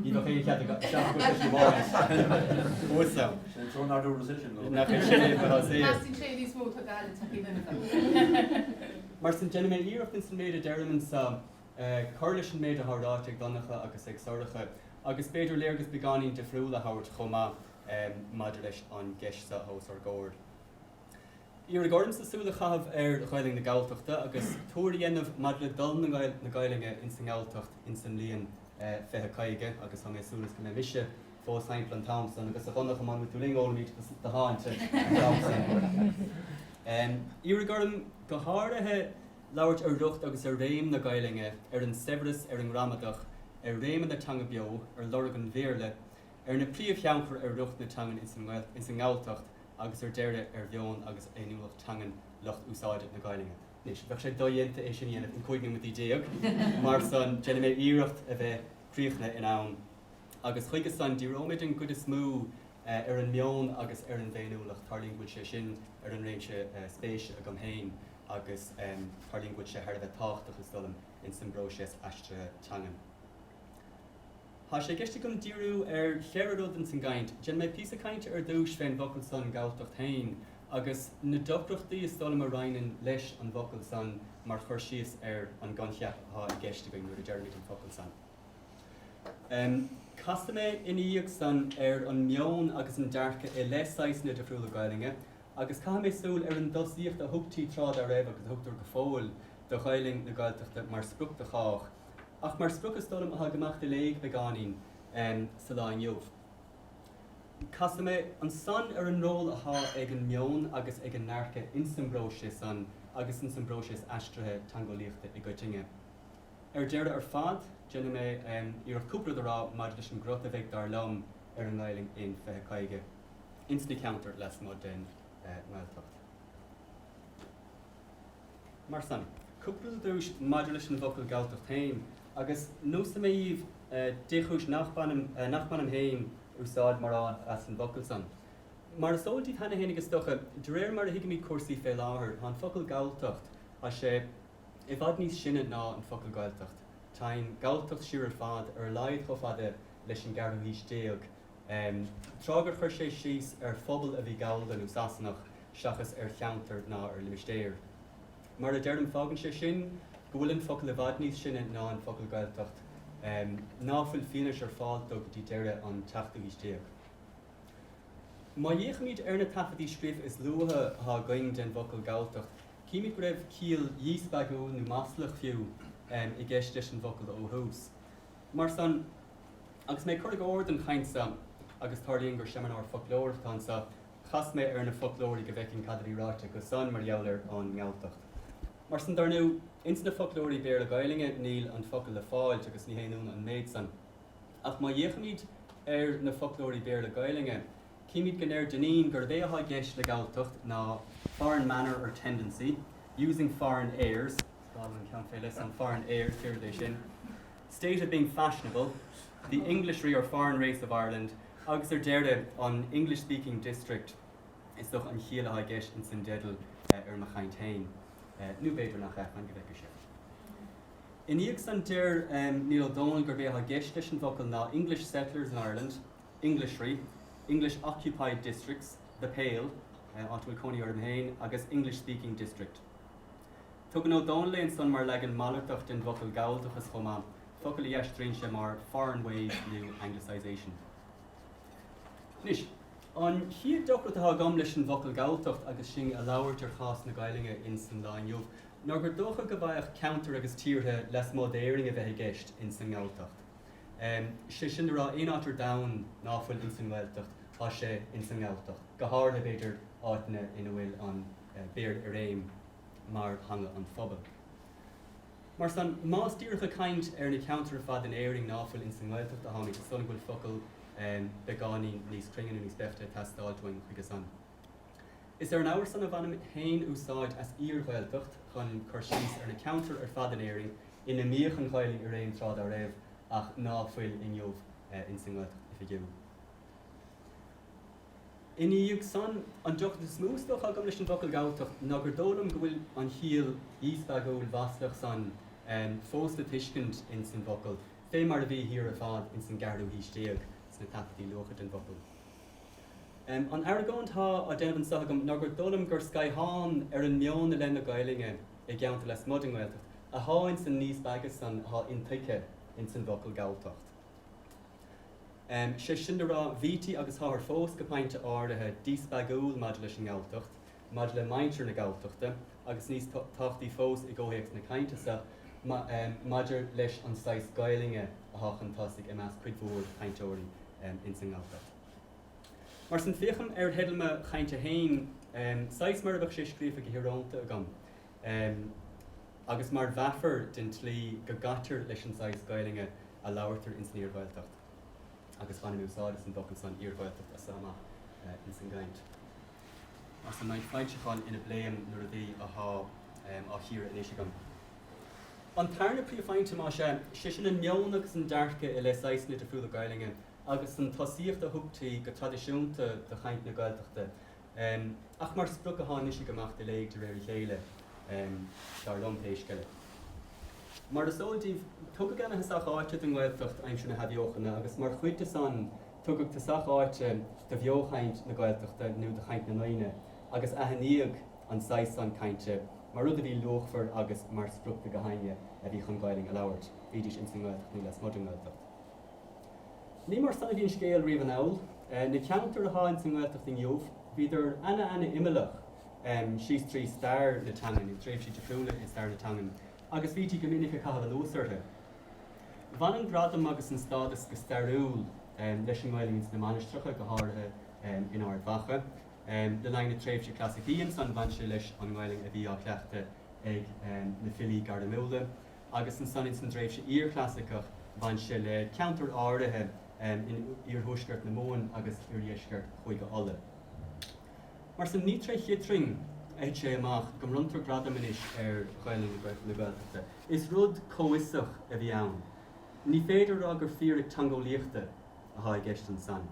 Ní bheadh aon chead aige, seachas go gcloisfí bháis uaidh é. Sin an t-ionad dúras é sin, nó? Nach é sin é a bheadh saor. Meas tú cé is mó atá ag goil le tacaí Fhine Gael? Mar sin, déanfaidh mé iarracht ins an méid a deirim anso cur leis an méid athá ráite ag Donncha agus ag Sorcha, agus b'fhéidir léargas beagáinín difriúil a thabhairt chomh maith maidir leis an gceist so athá os ár gcomhair. Iarraidh ormsa súil a chaitheamh ar Ghaeilinn na Gaeltachta agus tuar a dhéanamh maidir le dul na Gaeilinne ins an nGaeltacht ins an mbliain 2050 agus tá mé ag súil is go mbeidh mise fós thimpeall an t-am san agus a Dhonncha mura mbeidh tú linn ólaimíd do sháinte an t-am san. Iarraidh orm go háirithe labhairt ar riocht agus ar réim na Gaeilinne, ar an saibhreas, ar an ngramadach, ar réimeann na teanga beo, ar lorg an Bhéarla, ar na príomhthionchair ar riocht na teangan ins an nGaeltacht, agus ar deireadh ar mheon agus ar fhéiniúlacht teangan lucht úsáide na Gaeilinne. Anois, bheadh sé dodhéanta é sin a dhéanamh in 15 nóiméad, mar san, déanfaidh mé iarracht a bheith críochnaithe in am, agus chuige san, díreoimid an gcuid is mó ar an meon agus ar an bhféiniúlacht, tarlaíonn go bhfuil sé sin ar an réimse spéise agam féin agus tarlaíonn go bhfuil sé thar a bheith tábhachtach, is dóigh liom, insan bpróiseas aistrithe teangan. Thá sé i gceist agam díriú ar cheithre rud ins an gcaint. Déanfaidh mé píosa cainte ar dtúis fén bhfocal san Galltacht féin agus na deacrachtaí is dóigh liom a roinneann leis an bhfocal san mar chur síos ar an gcoincheap athá i gceist againn nuair a deirimid an focal san. Casfaidh mé ina dhiaidh san ar an meon agus an dearcadh i leith saghasanna difriúla Gaelainne agus caithfidh mé súil ar an dtosaíocht a thugtaí tráth dá raibh agus a thugtar go fóill do Ghaelainn na Gaeltachta mar sprioc do chách. Ach mar sprioc is dóigh liom athá ag imeacht de léig beagáinín sa lá inniu. Casfaidh mé ansan ar an ról athá ag an meon agus ag an ndearcadh ins an bpróiseas san agus ins an bpróiseas aistrithe teangeolaíochta i gcoitinne. Ar deireadh ar fad, déanfaidh mé iarracht cúpla rud a rá maidir leis an gcruth a bheidh dar liom ar an nGaelainn in 2050 ins na ceantair lasmuigh den nGaeltacht. mar san. Cúpla focal ar dtúis maidir leis an bhfocal Galltacht féin, agus neosaidh mé dhíbh dé chúis nach mbainim féin úsáid mórán as an bhfocal san. Mar is eol díbh cheana féin is dócha, de réir mar a thuigimíd cúrsaí fé láthair, tá an focal Galltacht, tá sé i bhfad níos sine ná an focal Gaeltacht. Teigheann Galltacht siar ar fad, ar a laghad chomh fada leis an gceathrú haois déag, tráth gur chuir sé síos ar phobal a bhí Gallda nó Sasanach seachas ar cheantar ná ar limistéar. Mar a deirim, fágann sé sin go bhfuil an focal i bhfad níos sine ná an focal Gaeltacht ná fuil fianaise ar fáil dó go dtí deireadh an tseachtú haois déag. Má fhéachaimíd ar na taifeadtaí scríofa is luaithe atá againn den bhfocal Galltacht, címid go raibh ciall dhíspeagúil nó maslach fiú i gceist leis an bhfocal ó thús. Mar san, agus mé ag cur i gcóir don chaint so, agus tarlaíonn gur seimineár foclóireachta atá annso, chas mé ar na foclóirí go bhfeicinn cad a bhí ráite acu san mar gheall ar an nGalltacht. Mar san, dar ndú, ins na foclóirí Béarla-Gaoluinne níl an focal le fáilt agus ní haon iúnadh an méid san. Ach má dh'fhéachaimíd ar na foclóirí Béarla-Gaoluinne, Címid go ndeir Dinneen gurb é athá i gceist le Galltacht ná foreign manner or tendency, using foreign airs, scáil an ceann fé leith san, foreign airs, déarfad é sin, state of being fashionable, the Englishry or foreign race of Ireland agus ar deireadh an English speaking district Is dócha an chiall athá i gceist ins an dteideal ar mo chainnt féin. Nú b'fhéidir nach ea, fan go bhfeice sibh. I ndiaidh san deir Niall Ó Dónaill gurb é athá i gceist leis an bhfocal ná English settlers in Ireland, Englishry, English occupied districts, The Pale, áit a bhfuil cónaí orm féin, agus English speaking district. Tugann Ó Dónaill é ansan mar leagan malartach den bhfocal Galldachas chomh maith, focal a dh'aistríonn sé mar foreign ways, nó anglicisation. Anois, an chéad deacracht atá agam leis an bhfocal Galltacht agus sinn a' labhairt ar chás na Gaidhlinge ins an lá inniu ná gur dócha go bhfaigheadh ceantair agus tíortha lasmuigh d'Éirinn a bheith i gceist ins an nGalltacht. sé sin a rá, aon áit ar domhan ná fuil ins an nGaeltacht tá sé ins an nGalltacht, go háirithe b'fhéidir áiteanna in a bhfuil an Béarla i réim mar theanga an phobail. Mar san, má's díreach ag caint ar na ceantair ar fad in Éirinn ná fuil ins an nGaeltacht atáimíd, is dóigh go bhfuil focal beagáinín níos cruinne nó níos beaichte ag teastáilt uainn chuige san. Is ar an abhar san a bhainim féin úsáid as Iar-Ghaeltacht chun cur síos ar na ceantair ar fad in Éirinn ina mbíodh an Ghaelainn i réim tráth dá raibh ach ná fuil inniu ins an nGaeltacht oifigiúil. I ndiaidh san, an deacracht is mó is dócha agam leis an bhfocal Galltacht ná gur dóigh liom go bhfuil an chiall dhíspeagúil mhaslach san fós le tuiscint ins an bhfocal, fé mar a bhí thiar ar fad ins an gceathrú haois déag sna taifeadtaí luatha den bhfocal. An argóint atá á déanamh anso agam ná gur dóigh liom gur scáthán ar an meon i leith na Gaelainne i gceantair lasmuigh den nGaeltacht atá ins an ndíspeagadh san atá intuigthe ins an bhfocal Galltacht. Sé sin le rá, bhítí agus táthar fós go pointe áirithe díspeagúil maidir leis an nGalltacht maidir le muintir na Galltachta agus níos tábhachtaí fós i gcomhthéacs na cainte sa, maidir leis an saghas Gaelainne athá chun tosaigh i measc cuid mhór cainteoirí ins an nGalltacht. Mar sin, féachaim ar theideal mo chainte féin saghas mar a bheadh sé scríofa go hiorónta agam agus mar mheafar den tslí go gcaitear leis an saghas Gaelainne a labhartar ins an Iar-Ghaeltacht agus bainfidh mé úsáid as an bhfocal san, Iar-Ghaeltacht, as so amach ins an gcaint. Insna foilseacháin ina bpléim an t-ábhar athá á chíoradh anois agam. An tarna príomhphointe, más ea, sé sin an meon agus an dearcadh i leith saghsanna difriúla Gaelainne agus an tosaíocht a thugtaí go traidisiúnta do chaint na Gaeltachta ach mar sprioc athá anois ag imeacht i léig de réir a chéile, dar liom, pé scéal é. Mar is eol daoibh, tugadh ana-thosach áite don nGaeltacht aimsir na hAthbheochana agus mar chuid de san Tugadh tosach áite do bheo-chaint na Gaeltachta nó do chaint na ndaoine agus aithníodh an saghas san cainte mar rud a bhí luachmhar agus mar sprioc do gach éinne a bhí chun Gaelainn a labhairt, bhídís ins an nGaeltacht nó lasmuigh den nGaeltacht. Ní mar san a bhí an scéal riamh anall. Na ceantair atá ins an nGaeltacht inniu, bhíodar ana-ana-imeallach síos trí stair na teangan, i dtréimhsí difriúla i stair na teangan, agus bhítí go minic ag caitheamh anuas orthu. Bhain an gradam agus an stádas go stairiúil leis an nGaelainn ins na mainistreacha, go háirithe in Ard Mhacha. Le linn na tréimhse clasaicí ansan bhain sé leis an nGaelainn a bhí á cleachtadh ag na filí gairmiúla agus ansan ins an dtréimhse iar-chlasaiceach bhain sé le ceantair áirithe in iarthuaisceart na Mumhan agus oirdheisceart Chúige Uladh. Mar san, ní tré chiotrainn a thit sé amach go mbronntar gradam anois ar Ghaelainn na Gaeltachta. Is rud comhfhiosach a bhí ann. Ní féidir a rá gur fíric teangeolaíochta athá i gceist ansan.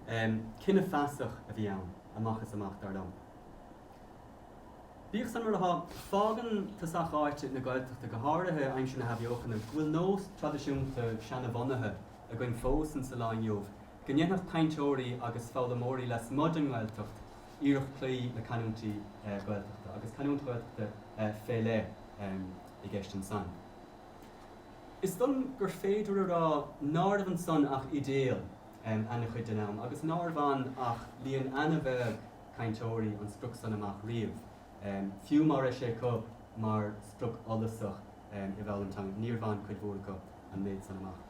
Cinneadh feasach a bhí ann amach is amach, dar liom. Bíodh san mar athá, fágann tosach áite na Gaeltachta, go háirithe aimsir na hAthbheochana, go bhfuil nós traidisiúnta seana-bhunaithe againn fós insa lá inniu, Go ndéanfadh cainteoirí agus foghlaimeoirí lasmuigh den nGaeltacht iarracht cloí le canúintí Gaeltachta, agus canúint Ghaeltachta fé leith i gceist ansan. Is dóigh liom gur féidir a rá nárbh ansan ach idéal ana-chuid den am agus nár bhain ach líon ana-bheag cainteoirí an sprioc san amach riamh, fiú mara raibh sé acu mar sprioc fhollasach i bhfoghlaim na teangan, níor bhain cuid mhór acu an méid san amach.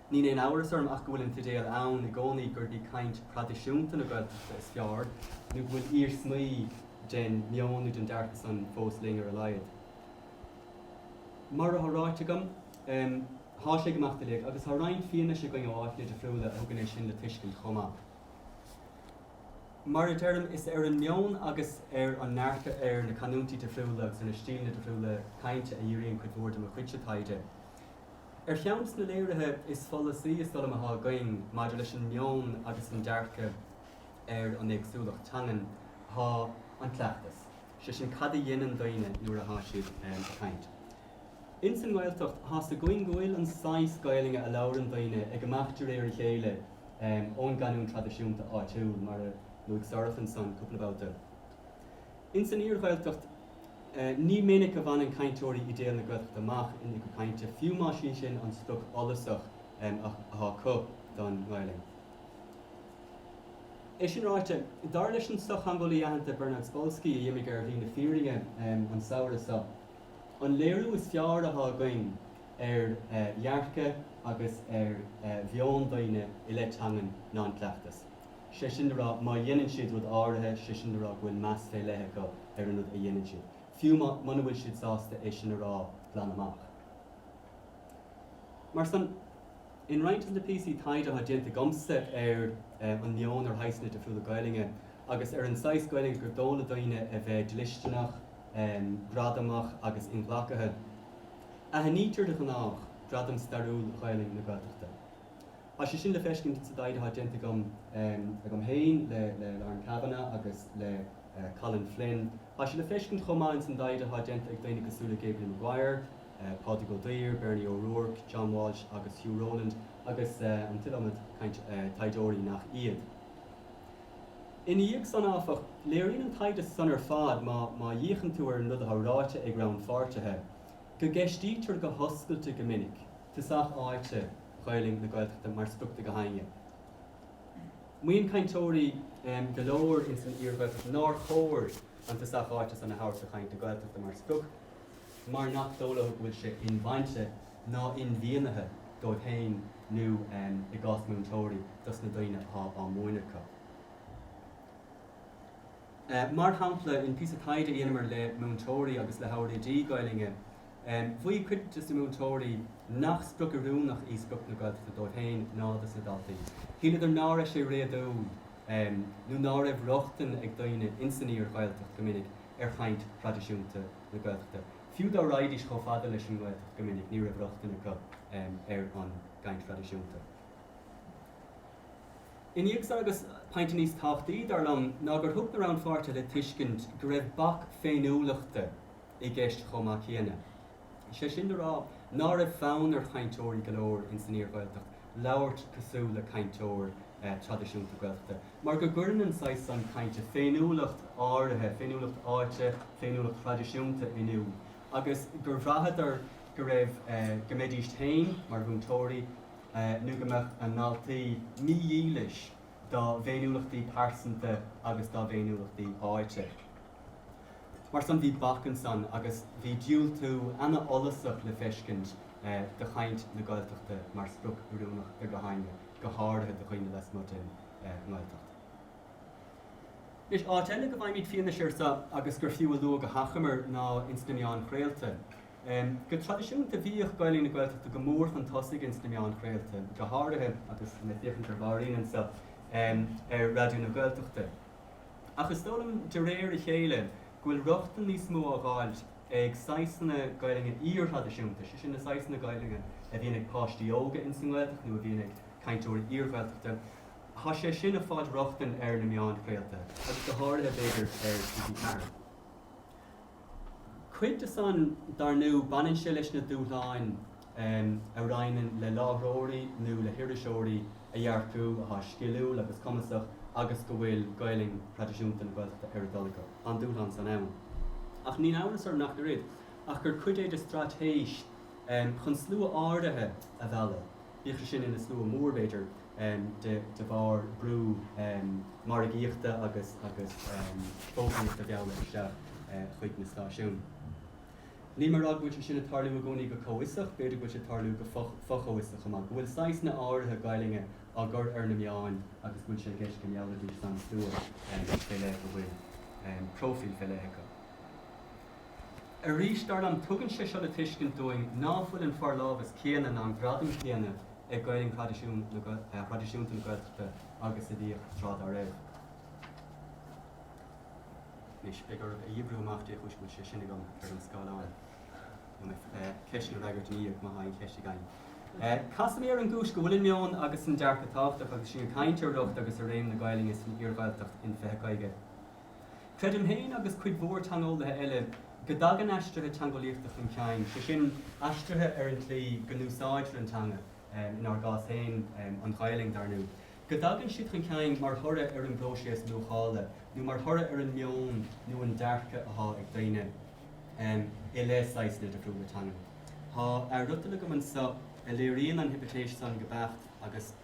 Níl aon amhras orm ach go bhfuil an t-idéal ann i gcónaí gurb í caint thraidisiúnta na Gaeltachta is fearr, nó go bhfuil iarsmaí den meon nó den dearcadh san fós linn ar a laghad. Mar athá ráite agam, thá sé ag imeacht i léig, agus thá roinnt fianaise againn ó áiteanna difriúla a thugann é sin le tuiscint chomh maith. Mar a deirim, is ar an meon agus ar an ndearcadh ar na canúintí difriúla agus ar na stíleanna difriúla cainte a dhíríonn cuid mhór de mo chuidse taighde. Ar cheann de na léirithe is follasaí is dó' liom atá againn maidir leis an meon agus an dearcadh ar an éagsúlacht teangan tá an cleachtas, sé sin cad a dheineann daoine nuair atá siad ag caint. Ins an nGaeltacht tá's againn go bhfuil an saghas Gaelainne a labhaireann daoine ag imeacht de réir a chéile ón gcanúint traidisiúnta áitiúil, mar a luaigh Sorcha ansan cúpla babhta. Ins an Iar-Ghaeltacht. Ní minic a bhaineann cainteoirí idéal na Gaeltachta amach ina gcuid cainte, fiú más í sin an sprioc fhollasach atá acu don nGaelainn. É sin ráite, dar leis an sochtheangeolaí aitheanta Bernard Spolsky a d'imigh ar shlí na fírinne an samhradh seo, an léiriú is fearr atá againn ar dhearcadh agus ar mheon daoine i leith teangan ná an cleachtas. sé sin le rá má dheineann siad rud áirithe, sé sin le rá go bhfuil meas fé leith acu ar an rud a dheineann siad, fiú má, muna bhfuil siad sásta é sin a rá glan amach. Mar san, in roinnt des na píosaí taighde atá déanta agamsa ar an meon ar shaghsanna difriúla Gaelainne agus ar an saghas Gaelainne gur dó' le daoine a bheith dlisteanach, gradamach agus inghlacaithe, aithnítear de ghnách gradam stairiúil Ghaelainn na Gaeltachta. Tá sé sin le feiscint sa dtaighde atá déanta agam féin, le Lauren Kavanagh agus le Colin Flynn. Tá sé le feiscint chomh maith ins an dtaighde atá déanta ag daoine cosúil le Gabrielle Maguire, Pádraig Ó Duibhir, Bernie O'Rourke, John Walsh agus Hugh Rowland agus an t-iliomad taighdeoirí nach iad. Ina dhiaidh san áfach, léiríonn an taighde san ar fad, má fhéachann tú ar an rud atá ráite ag rannpháirtithe, go gceistítear go hoscailte go minic. tosach áite Ghaelainn na Gaeltachta mar sprioc do gach éinne. Maíonn cainteoirí go leor ins an Iar-Ghaeltacht nár chóir an tosach áite san a thabhairt do chaint na Gaeltachta mar sprioc mar nach dó' leo go bhfuil sé inbhainte ná inmhianaithe dóibh féin nó, i gcás múinteoirí, dos na daoine athá á múineadh acu. Mar shampla, in píosa taighde a dheineamar le múinteoirí agus le hábhair oidí Gaelainne, mhaígh cuid des na múinteoirí nach sprioc oiriúnach í sprioc na Gaeltachta dóibh féin ná dos na daltaí. Shíleadar ná raibh sé réadúil nó ná raibh rochtain ag daoine ins an Iar-Ghaeltacht go minic ar chaint thraidisiúnta na Gaeltachta. Fiú dá raghaidís chomh fada leis an nGaeltacht go minic ní raibh rochtain acu ar an gcaint thraidisiúnta. Ina dhiaidh san agus pointe níos tábhachtaí, dar liom, ná gur thug na rannpháirtithe le tuiscint go raibh bac féiniúlachta i gceist chomh maith céanna. Is é sin le rá ná raibh fonn ar chainteoirí go leor ins an iar-Ghaeltacht labhairt cosúil le cainteoir traidisiúnta Gaeltachta mar go gcuireann an saghas san cainte féiniúlacht áirithe, féiniúlacht áite, féiniúlacht thraidisiúnta in iúl agus gur bhraitheadar go raibh, go mbeidíst féin, mar mhúinteoirí, nó go mbeadh a ndaltaí mídhílis dá bhféiniúlachtaí pearsanta agus dá bhféiniúlachtaí áite. Mar san bhí bac ansan agus bhí diúltú ana-fhollasach le feiscint do chaint na Gaeltachta mar sprioc oiriúnach i gcathanna, go háirithe do dhaoine lasmuigh den nGaeltacht. Anois, áit eile go bhfaighimíd fianaise ar so agus gur fiú a lua go hachomair ná ins na meáin chraolta. Go traidisiúnta bhíodh Gaeilge na Gaeltachta go mór chun tosaigh ins na meáin chraolta, go háirithe, agus tá mé ag féachaint ar Mháirín anseo, ar Raidió na Gaeltachta. Ach is dóigh liom, de réir a chéile, go bhfuil rochtain níos mó á dh'fháilt ag saghasanna Gaeilge iarthraidisiúnta, sé sin na saghasanna Gaeilge a bhíonn ag páistí óga ins an nGaeltacht nó a bhíonn ag cainteoirí iarGhaeltachta, tá sé sin ag fáilt rochtain ar na meáin chraolta agus go háirithe, b'fhéidir, ar TG4. Cuid de san, dar ndú, baineann sé leis na dúshláin a roinneann le láithreoirí nó le hiriseoirí a dh'earcú athá sciliúil agus cumasach agus go bhfuil Gaelainn thraidisiúnta na Gaeltachta ar a dtoil acu. Tá an dúshlán san ann. Ach níl amhras orm nach oiread ach gur cuid é de straitéis chun slua áirithe a mhealladh, bíodh sé sin ina slua mór, b'fhéidir, de bharr brú margaíochta agus fógraíochta a mhealladh isteach chuig na stáisiúin. Níl mé ag rá go bhfuil sé sin ag tarlú i gcónaí go comhfhiosach, b'fhéidir go bhfuil sé ag tarlú go fo-chomhfhiosach chomh maith, go bhfuil saghsanna áirithe Gaelainne á gcur ar na meáin agus go bhfuil sé i gceist go meallfaidís san slua fé leith go bhfuil próifíl fé leith acu. Arís, dar liom, tugann sé seo le tuiscint dúinn ná fuil an forlámhas céanna ná an gradam céanna ag Gaelainn thraidisiúnta na Gaeltachta agus a bhíodh tráth dá raibh. Anois, beidh oraibh a dh'oibriú amach dé chúis go bhfuil sé sin agam ar an scáileán, nó mé ceisteanna a fhreagairt i ndiaidh má thá aon cheist againn. Casfaidh mé ar an gcúis go bhfuil an meon agus an dearcadh tábhachtach, agus sinn ag caint ar riocht agus ar réim na Gaelainne san iar-Ghaeltacht in 2050. Creidim féin, agus cuid mhór teangeolaithe eile, go dtagann aistrithe teangeolaíochta chun cinn, sé sin, aistrithe ar an tslí go n-úsáidtear an teanga, in ár gcás féin, an Ghaelainn, dar ndú, go dtagann siad chun cinn mar thoradh ar an bpróiséas luachála nó mar thoradh ar an meon nó an dearcadh athá ag daoine i leith saghasanna difriúla teangan. Tá athfhriotal agam annso a léiríonn an hipitéis san go beacht agus.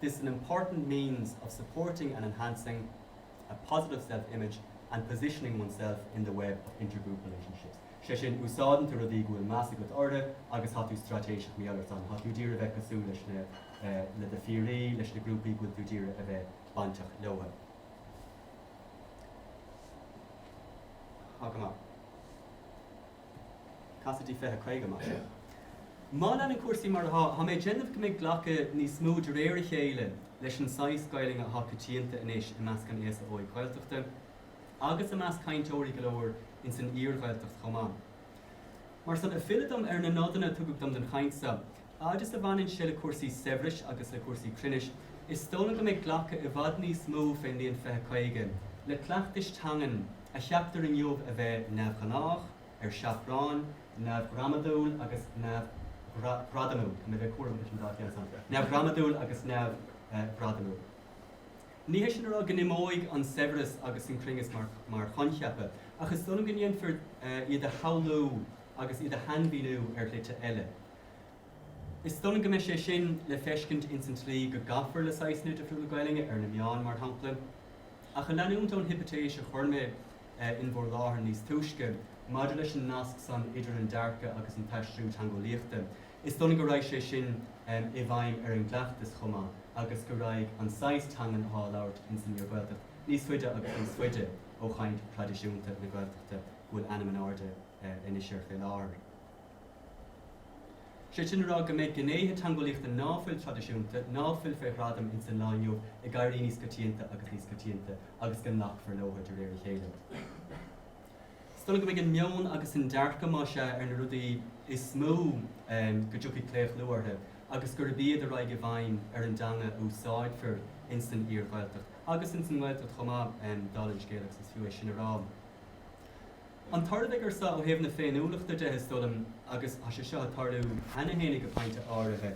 this an important means of supporting and enhancing a positive self-image and positioning oneself in the web of inter-group relationships'. Sé sin, úsáideann tú rudaí go bhfuil meas agat orthu agus tá tú straitéiseach mar san, tá tú d'iarraidh bheith cosúil leis na, le do phiaraí, leis na grúpaí go bhfuil tú d'iarraidh a bheith bainteach leotha. Tá go maith. Cad as dí 20, 50, Más ea, má leanann cúrsaí mar atá, tá mé ag déanamh go mbeidh glacadh níos mó de réir a chéile leis an saghas Gaelainne atá coitianta anois i measc an aosa óig Ghaeltachta agus i measc cainteoirí go leor ins an iar-Ghaeltacht chomh maith. Mar san, ag filleadh dom ar na nodanna a tugadh dom don chaint so, fhad is a bhaineann sé le cúrsaí saibhris agus le cúrsaí cruinnis, is dóigh liom go mbeidh glacadh i bhfad níos mó fén mbliain fiche caoga le cleachtais teangan a cheaptar inniu a bheith neamhghnách, ar seachrán, neamhghramadúil agus neamhghradamúil. Tá mé ag bheith cúramach leis an dá cheann san, neamhghramadúil agus neamhghradamúil. Ní hé sin le rá go n-imeoidh an saibhreas agus an cruinneas mar choincheapa, ach is dóigh liom go ndéanfar iad a shamhlú agus iad a shainmhíniú ar shlite eile. Is dóigh liom go mbeidh sé sin le feiscint ins an tslí go gcaithfear le saghasanna difriúla Gaelainne ar na meáin, mar shampla. Ach ag leanúint ón hipitéis a chuir mé in bhur láthair níos túisce maidir leis an nasc san idir an dearcadh agus an t-aistriú teangeolaíochta, is dóigh liom go raghaidh sé sin i bhfeidhm ar an gcleachtas chomh maith agus go raghaidh an saghas teangan athá á labhairt ins an iar-Ghaeltacht níos faide agus níos faide ó chaint thraidisiúnta na Gaeltachta go bhfuil ainm in airde anois air fé láthair. Sé sin a rá go mbeidh gnéithe teangeolaíochta ná fuil traidisiúnta, ná fuil fé ghradam ins an lá inniu, ag éirí níos coitianta agus níos coitianta agus go nglacfar leotha de réir a chéile. Is dóigh liom go mbeidh an meon agus an dearcadh, más ea, ar na rudaí is mó go dtiocfaidh claochlú ortha agus gurb iad a raghaidh i bhfeidhm ar an dteanga a úsáidfear ins an iar-Ghaeltacht, agus ins an nGaeltacht chomh maith, dála an scéil, agus is fiú é sin a rá. An tarlóidh ansan ó thaobh na féiniúlachta de is dóigh liom agus tá sé seo ag tarlú cheana féin go pointe áirithe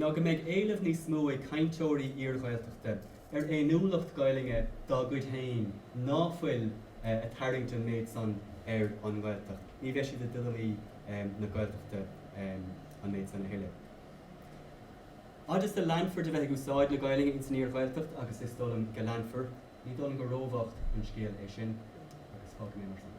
ná go mbeidh éileamh níos mó ag cainteoirí iar-Ghaeltachta ar fhéiniúlacht Ghaelainne dá gcuid féin ná fuil ag tarraingt an méid san ar an nGaeltacht. Ní bheidh siad i dtuilleamaí na Gaeltachta an méid san a thuilleadh. Fhad is a leanfar de bheith ag úsáid na Gaelainne ins an iar-Ghaeltacht agus is dóigh liom go leanfar, Ní dóigh liom gur róbhocht an scéal é sin, agus fágfaidh mé mar san é.